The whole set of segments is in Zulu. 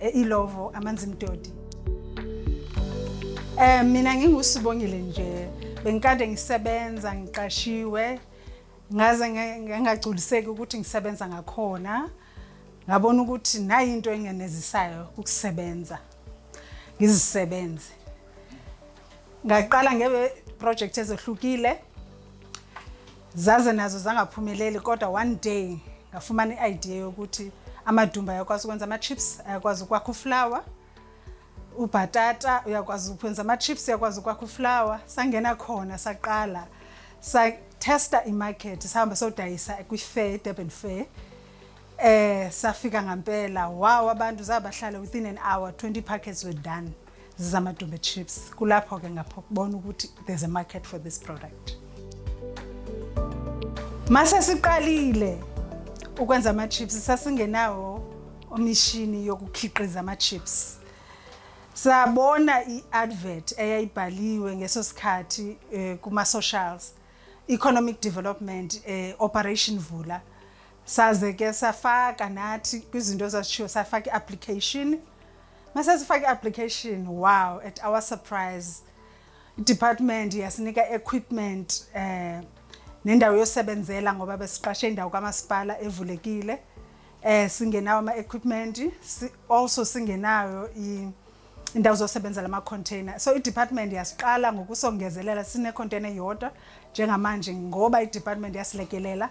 Eh, ilovo amanzi mdodi um mina ngingusibongile nje bengikade ngisebenza ngiqashiwe ngaze ngangagculiseki ukuthi ngisebenza ngakhona ngabona ukuthi nayi into engenezisayo ukusebenza ngizisebenze ngaqala ngebe project ezohlukile Zaze nazo zangaphumeleli kodwa one day ngafumana i-idea yokuthi amadumba ayakwazi ukwenza ama-chips ayakwazi ukwakha uflower ubhatata uyakwazi ukwenza ama-chips uyakwazi ukwakha uflower sangena khona saqala satesta imarket sihamba sodayisa kwi-fair durban fair eh safika ngampela wow abantu zabahlala within an hour 20 packets were done zamadumbe chips kulapho ke ngapho kubona ukuthi there's a market for this product mase siqalile ukwenza ama-chips sasingenawo omishini yokukhiqiza ama-chips sabona i-advert eyayibhaliwe ngeso sikhathi eh, kuma-socials economic development eh, operation vula saze ke safaka nathi kwizinto ezasishiwo safaka i-application Mase sifake application wow at our surprise department yasinika equipment eh nendawo yosebenzela ngoba besiqashe indawo kamasipala evulekile eh singenawo ama equipment si, also singenayo i indawo zosebenza lama container so i department yasiqala ngokusongezelela sine container yodwa njengamanje ngoba i department yasilekelela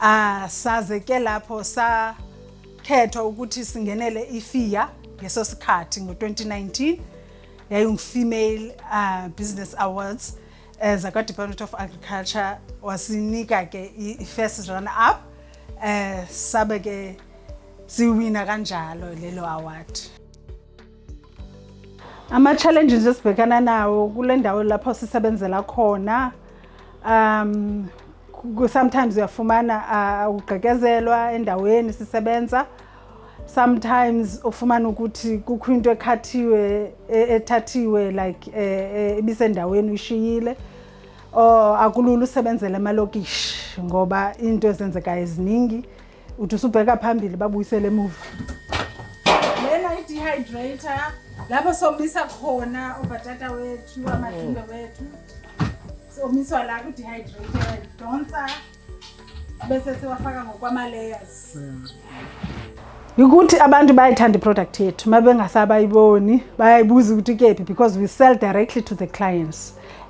Ah saze ke lapho sa khethwa ukuthi singenele ifiya ngeso sikhathi ngo-2019 yayingu-female uh, business awards eh, zakwa-department of agriculture wasinika ke i-first run up eh, sabe ke siwina kanjalo lelo award Ama-challenges esibhekana nawo kule ndawo lapho sisebenzela khona um sometimes uyafumana uh, ugqekezelwa endaweni sisebenza sometimes ufumana ukuthi kukho into ekhathiwe e, ethathiwe like e, e, ibisendaweni uyishiyile or akulula usebenzela emalokishi ngoba into ezenzekayo eziningi uthi usubheka phambili babuyisele emuva lena i-dehydrator lapho somisa khona ubhatata wethu amadumbe wethu somiswa la ku-dehydrator donsa bese siwafaka ngokwama-layers ukuthi abantu bayayithanda iproduct yethu uma bengasabayiboni bayayibuza ukuthi kephi because we sell directly to the clients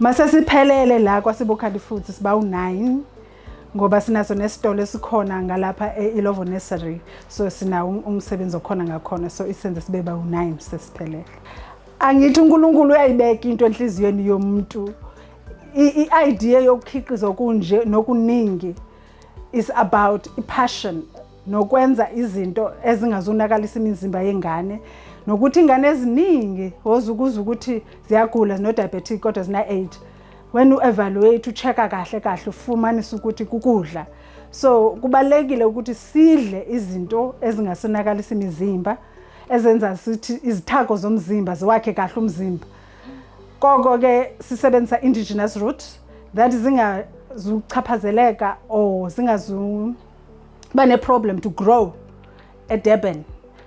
Mase siphelele la kwaSibukhali futhi siba u9 ngoba sinaso nesitolo esikhona ngalapha eIlovo Nursery so sina um, umsebenzi okhona ngakhona so isenze sibe ba u9 sesiphelele angithi uNkulunkulu uyayibeka into enhliziyweni yomuntu i-idea yokukhiqiza okunje nokuningi is about i-passion nokwenza izinto ezingazonakalisa imizimba yengane nokuthi ingane eziningi ozukuza ukuthi ziyagula zino-diabetic kodwa zina-age when u-evaluate u-check-a kahle kahle ufumanisa ukuthi kukudla so kubalekile ukuthi sidle izinto ezingasonakalisa imizimba ezenza sithi izithako zomzimba ziwakhe kahle umzimba koko ke sisebenzisa indigenous root that zingazuchaphazeleka or zingazu bane-problem to grow edurban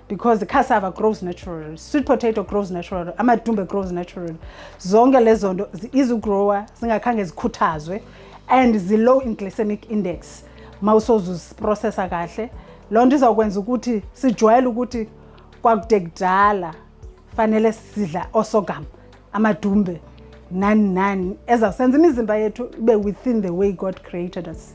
because the cassava grows naturally sweet potato grows naturally amadumbe grows naturally zonke lezo nto izigrower zingakhange zikhuthazwe and zi-low in glycemic index uma usozuziprocessa kahle loo nto izawukwenza ukuthi sijwayele ukuthi kwakude kudala fanele sidla osogam amadumbe nani nani ezawusenza imizimba yethu ibe within the way god created us